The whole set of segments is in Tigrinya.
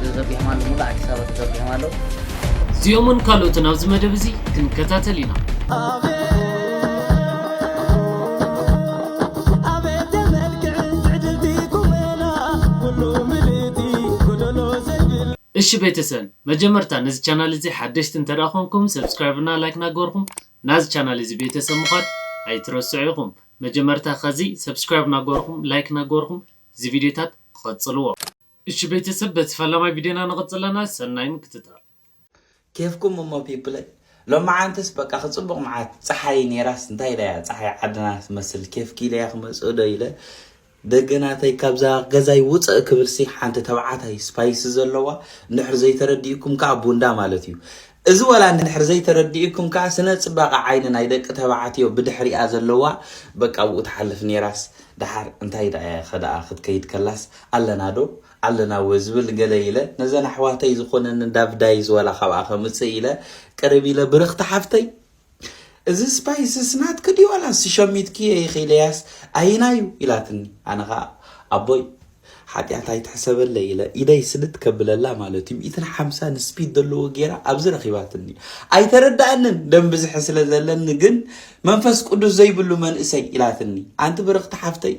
ተዘርጊሖም ኣለዉ ሙሉእ ኣዲስ ኣበባ ተዘርጊሖም ኣለዉ እዚኦምን ካልኦትን ኣብዚ መደብ እዚ ክንከታተል ኢና እሺ ቤተሰብ መጀመርታ ነዚ ቻናል እዚ ሓደሽቲ እንተ ኮንኩም ሰብስክራይብ እና ላይክ ናገበርኩም ናዚ ቻናል እዚ ቤተሰብ ምዃን ኣይትረስዑ ኢኹም መጀመርታ ከዚ ሰብስክራይብ ናገበርኩም ላይክ ናገበርኩም እዚ ቪድዮታት ቐጽልዎ እሺ ቤተሰብ በቲ ፈላማይ ቪድዮና ንቅፅል ኣለና ሰናይ ምክትታል። ኬፍኩም እሞ ፒፕለይ ሎምዓንትስ በቃ ክጽቡቅ ምዓት ጸሓይ ኔራስ እንታይ ኢለ እያ ጸሓይ ዓድና ትመስል ኬፍ ኪኢለ እያ ክመጽእ ዶ ኢለ ደገ ናተይ ካብዛ ገዛይ ውጽእ ክብልሲ ሓንቲ ተባዓታይ ስፓይሲ ዘለዋ እንድሕር ዘይተረዲኡኩም ከኣ ቡንዳ ማለት እዩ እዚ ወላ እንድሕር ዘይተረዲኡኩም ከኣ ስነ ጽባቀ ዓይኒ ናይ ደቂ ተባዕትዮ ብድሕሪኣ ዘለዋ በቃ ኣብኡ ትሓልፍ ኔራስ ደሓር እንታይ ደኣ ከደኣ ክትከይድ ከላስ ኣለና ዶ ኣለና እወ ዝብል ገለ ኢለ ነዘን ኣሕዋተይ ዝኮነኒ ዳቭዳይዝ ወላ ካብኣ ከምጽእ ኢለ ቅርብ ኢለ ብርክቲ ሓፍተይ እዚ ስፓይስስ ናትኪ ድዩ ዋላስ ሸሚትክዮ ኢኺ ኢለያስ ኣየናዩ ኢላትኒ ኣነ ኸኣ ኣቦይ ሓጢኣት ኣይትሕሰበለይ ኢለ ኢደይ ስልት ከብለላ ማለት እዩ ሚእትን ሓምሳን ስፒድ ዘለዎ ጌራ ኣብዚ ረኺባትኒ ኣይተረዳእንን ደም ብዝሒ ስለ ዘለኒ ግን መንፈስ ቅዱስ ዘይብሉ መንእሰይ ኢላትኒ ኣንቲ ብርኽቲ ሓፍተይ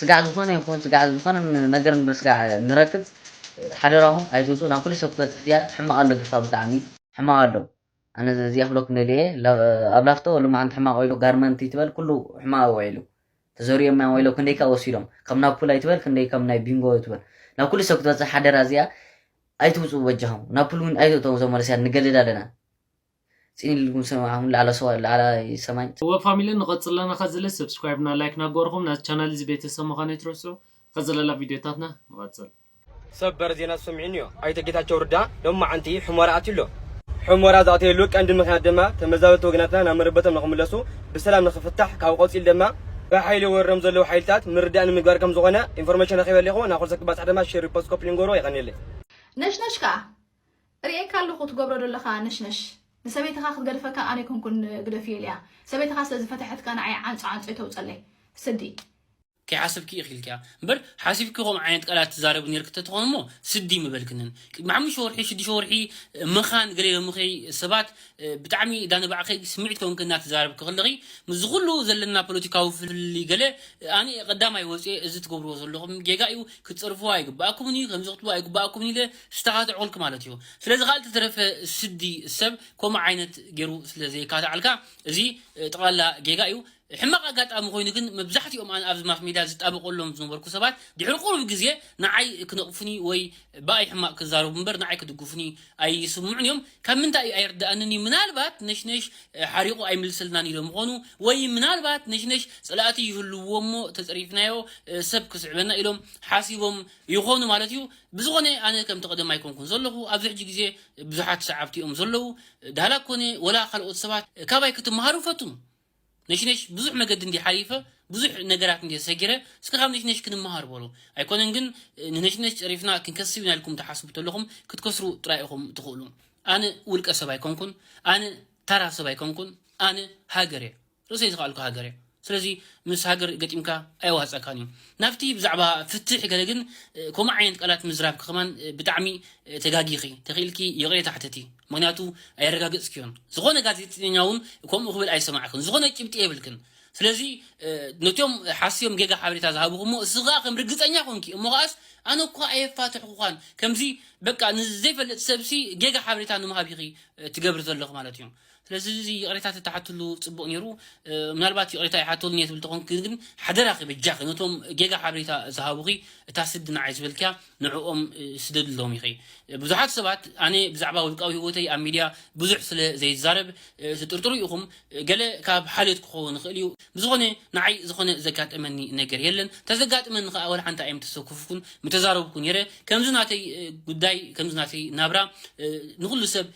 ስጋዕ ዝኾነ ይኹን ስጋዕ ዝኾነ ነገር ንስጋዕ ንረክብ ሓደራኹም ኣይትውጹ ናብ ኩሉ ሰብ ክትበጽሕ ድያ ሕማቕ ኣሎ ግፋ ብጣዕሚ ሕማቕ ኣሎ ኣነ እዚኣ ክብለኩም ደልየ እየ ኣብ ላፍቶ ሎማዓንቲ ሕማቕ ወይሎ ጋርመንቲ ትበል ኩሉ ሕማቕ ውዒሉ ተዘሪኦምያ ወይሎ ክንደይ ከኣ ወሲዶም ካብ ናፑል ኣይትበል ክንደይ ካብ ናይ ቢንጎ ትበል ናብ ኩሉ ሰብ ክትበጽሕ ሓደራ እዚኣ ኣይትውጹ በጃኹም ናፑል ውን ኣይትእተው እዞም መለስያት ንገድድ ኣለና ፅን ኢልኩም ሰማዕ ኣሁን ላዕለ ሰዋይ ላዕላይ ሰማይ። እወ ፋሚሊ ንቀፅል ኣለና ከዝለ ሰብስክራይብ እና ላይክ ናገበርኹም ናዚ ቻናል እዚ ቤተሰብ ምኻን ኣይትረስዑ ከዝለላ ቪድዮታትና ንቀፅል። ሰበር ዜና ተሰሚዑኒዮ፣ ኣይተ ጌታቸው ርዳ ሎማዓንቲ ሑመራ ኣትዩ ኣሎ። ሑመራ ዝኣተየሉ ቀንዲ ምኽንያት ድማ ተመዛበልቲ ወገናትና ናብ መረበቶም ንኽምለሱ ብሰላም ንኽፍታሕ ካብኡ ቀፂሉ ድማ ብሓይሊ ወሪሮም ዘለዉ ሓይልታት ምርዳእ ንምግባር ከምዝኾነ ኢንፎርሜሽን ረኺበ ኣለኹ፣ ናብ ኩልሰብ ክባፃሕ ድማ ሼር ሪፖስት ኮፒ ሊንክ ግበርዎ የቐንየለይ። ነሽነሽ ከኣ ርእየካ ኣለኩ ትገብሮ ደለካ ነሽነሽ ንሰበይትካ ክትገድፈካ ኣነ ኣይኮንኩን ግደፍዮ ኢለያ ሰበይትካ ስለ ዝፈተሐትካ ንዓይ ዓንጾ ዓንጾ ይተውጸለይ ስዲ። ከይሓሰብኪ ኢኺ ኢልክያ እምበር ሓሲብኪ ከምኡ ዓይነት ቃላት ትዛረቢ ኔርኪ ተትኾን እሞ ስዲ ምበልክንን ቅድሚ ሓሙሽተ ወርሒ ሽዱሽተ ወርሒ መኻን ገለ ሎሚ ከ ሰባት ብጣዕሚ እዳ ንባዕኺ ስምዒት ኮንኪ እናተዛረብኪ ከለኺ ምስዚ ኩሉ ዘለና ፖለቲካዊ ፍልልይ ገለ ኣነ ቀዳማይ ወጽየ እዚ ትገብርዎ ዘለኹም ጌጋ እዩ ክትጸርፍዋ ኣይግብኣኩምን እዩ ከምዚ ክትብሉ ኣይግብኣኩምን ኢለ ዝተካትዑልክ ማለት እዩ ስለዚ ካል ተተረፈ ስዲ ሰብ ኮምኡ ዓይነት ገሩ ስለ ዘየካትዓልካ እዚ ጥቅላላ ጌጋ እዩ ሕማቅ ኣጋጣሚ ኮይኑ ግን መብዛሕቲኦም ኣነ ኣብዚ ማስ ሜድያ ዝጣበቀሎም ዝነበርኩ ሰባት ድሕሪ ቁሩብ ግዜ ንዓይ ክነቅፉኒ ወይ ብኣይ ሕማቅ ክዛረቡ እምበር ንዓይ ክድግፉኒ ኣይስምዑን እዮም ካብ ምንታይ እዩ ኣይርደኣንን እዩ ምናልባት ነሽነሽ ሓሪቁ ኣይምልሰልናን ኢሎም ይኮኑ ወይ ምናልባት ነሽነሽ ጽላእቲ ይህልውዎ እሞ ተጸሪፍናዮ ሰብ ክስዕበና ኢሎም ሓሲቦም ይኾኑ ማለት እዩ ብዝኾነ ኣነ ከምቲ ቀደም ኣይኮንኩን ዘለኹ ኣብዚ ሕጂ ግዜ ብዙሓት ሰዓብቲ እዮም ዘለዉ ዳህላክ ኮነ ወላ ካልኦት ሰባት ካባይ ክትመሃሩ ፈቱም ነሽነሽ ብዙሕ መገዲ እንድየ ሓሊፈ ብዙሕ ነገራት እንድየ ሰጊረ እስከ ካብ ነሽነሽ ክንመሃር በሉ ኣይኮነን ግን ንነሽነሽ ጸሪፍና ክንከስብ ኢና ኢልኩም ትሓስቡ ተለኹም ክትከስሩ ጥራይ ኢኹም ትኽእሉ ኣነ ውልቀ ሰብ ኣይኮንኩን ኣነ ታራ ሰብ ኣይኮንኩን ኣነ ሃገር እየ ርእሰይ ዝኸኣልኩ ሃገር እያ ስለዚ ምስ ሃገር ገጢምካ ኣየዋህጸካን እዩ ናብቲ ብዛዕባ ፍትሕ ገለ ግን ከምኡ ዓይነት ቃላት ምዝራብኪ ከማን ብጣዕሚ ተጋጊኺ ተኺኢልኪ ይቕሬታ ሕተቲ ምኽንያቱ ኣየረጋገጽክዮን ዝኾነ ጋዜጠኛ ውን ከምኡ ክብል ኣይሰማዕክን ዝኾነ ጭብጢ የብልክን ስለዚ ነቶም ሓስዮም ጌጋ ሓበሬታ ዝሃብኹሞ እስኺ ከኣ ከም ርግጸኛ ኮንኪ እሞ ከኣስ ኣነ እኳ ኣየፋትሕኹዃን ከምዚ በቃ ንዘይፈልጥ ሰብሲ ጌጋ ሓበሬታ ንምሃብ ኢኺ ትገብሪ ዘለኺ ማለት እዩ ስለዚ እዚ ይቕሬታ ተትሓትሉ ጽቡቕ ነይሩ። ምናልባት ይቕሬታ ይሓተሉን እየ ትብል ተኾንክ ግን ሓደራኺ በጃኺ ነቶም ጌጋ ሓበሬታ ዝሃቡኺ እታ ስዲ ንዓይ ዝበልክያ ንዕኦም ስደድሎም ኢኺ። ብዙሓት ሰባት ኣነ ብዛዕባ ውልቃዊ ህይወተይ ኣብ ሚድያ ብዙሕ ስለ ዘይዛረብ ትጥርጥሩ ኢኹም ገለ ካብ ሓልዮት ክኸውን ይኽእል እዩ። ብዝኾነ ንዓይ ዝኾነ ዘጋጠመኒ ነገር የለን። ተዘጋጥመኒ ከኣ ወላ ሓንቲ ኣይምተሰኩፍኩን ምተዛረብኩ ነይረ። ከምዚ ናተይ ጉዳይ ከምዚ ናተይ ናብራ ንኹሉ ሰብ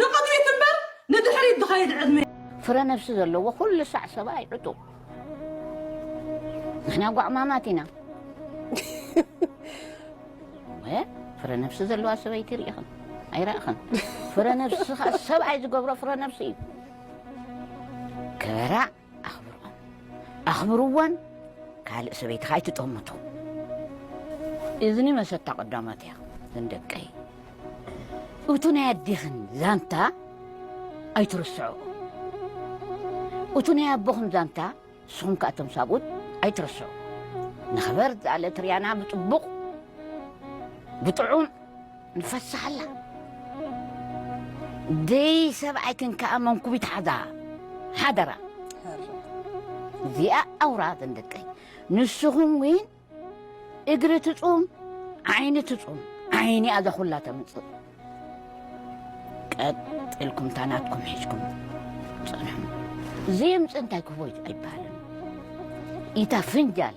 ንቕድሚት እምበር ንድሕሪት ዝኸይድ ዕድመ። ፍረ ነብሲ ዘለዎ ኩሉ ሳዕ ሰብኣይ ዕጡቕ። ንሕና ጓዕማማት ኢና። እወ ፍረ ነብሲ ዘለዋ ሰበይቲ ርኢኽን ኣይረእኽን ፍረ ነብሲ ከኣ ሰብኣይ ዝገብሮ ፍረ ነብሲ እዩ። ክበራ ኣኽብርኦም ኣኽብርወን ካልእ ሰበይትኻ ኣይትጠምቶ እዝኒ መሰታ ቀዳማት እያ ግን ደቀይ እቱ ናይ ኣዴኽን ዛንታ ኣይትርስዑ እቱ ናይ ኣቦኽን ዛንታ ንስኹም ከዓ እቶም ሳብኡት ኣይትርስዑ ንኽበር ዝኣለት ርያና ብፅቡቕ ብጥዑም ንፈስሓላ ደይ ሰብኣይክን ከኣ መንኩቢት ሓዛ ሓደራ እዚኣ ኣውራ ዘንደቀይ ንስኹም ውን እግሪ ትጹም ዓይኒ ትጹም ዓይኒ ኣዛ ኩላ ተምጽእ ቀጥልኩም ታናትኩም ሒዝኩም ጽንሑ ዘይምጽእ እንታይ ክህቦ ኣይበሃልን ኢታ ፍንጃል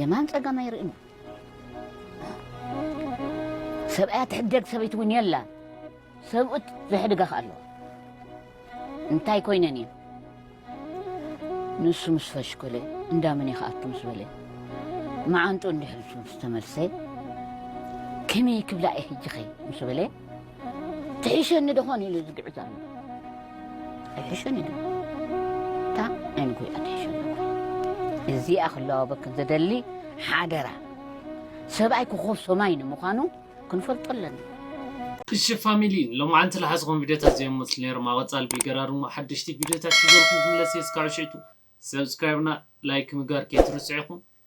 የማን ጸጋም ኣይርእን እዩ ሰብኣያ ትሕደግ ሰበይቲ እውን የላ ሰብኡት ዘሕድጋ ከ ኣለዎ እንታይ ኮይነን እየ ንሱ ምስ ፈሽኮለ እንዳመን ይኸኣቱ ምስ በለ መዓንጡ እንድሕልሱ ምስ ተመልሰ ከመይ ክብላ እየ ሕጂ ኸ ምስ በለ ትሕሸኒ ደኾን ኢሉ ዝግዕዝ ኣሎ ኣይሕሸኒ ዶ እታ ናይ ንጎይታ ትሕሸኒ እዚኣ ክለዋበክን ዘደሊ ሓደራ ሰብኣይ ኮኾብ ሰማይ ንምዃኑ ክንፈልጦ ኣለና እሺ ፋሚሊ ሎማዓንቲ ልሓዝኹም ቪድዮታት እዚኦም መፅሊ ነይሮም ኣብ ቀፃሊ ብልገራር እሞ ሓደሽቲ ቪድዮታት ሒዘልኩም ክምለስ እየ እስካብ ሽዕቱ ሰብስክራይብና ላይክ ምግባር ከይትርስዑ ኢኹም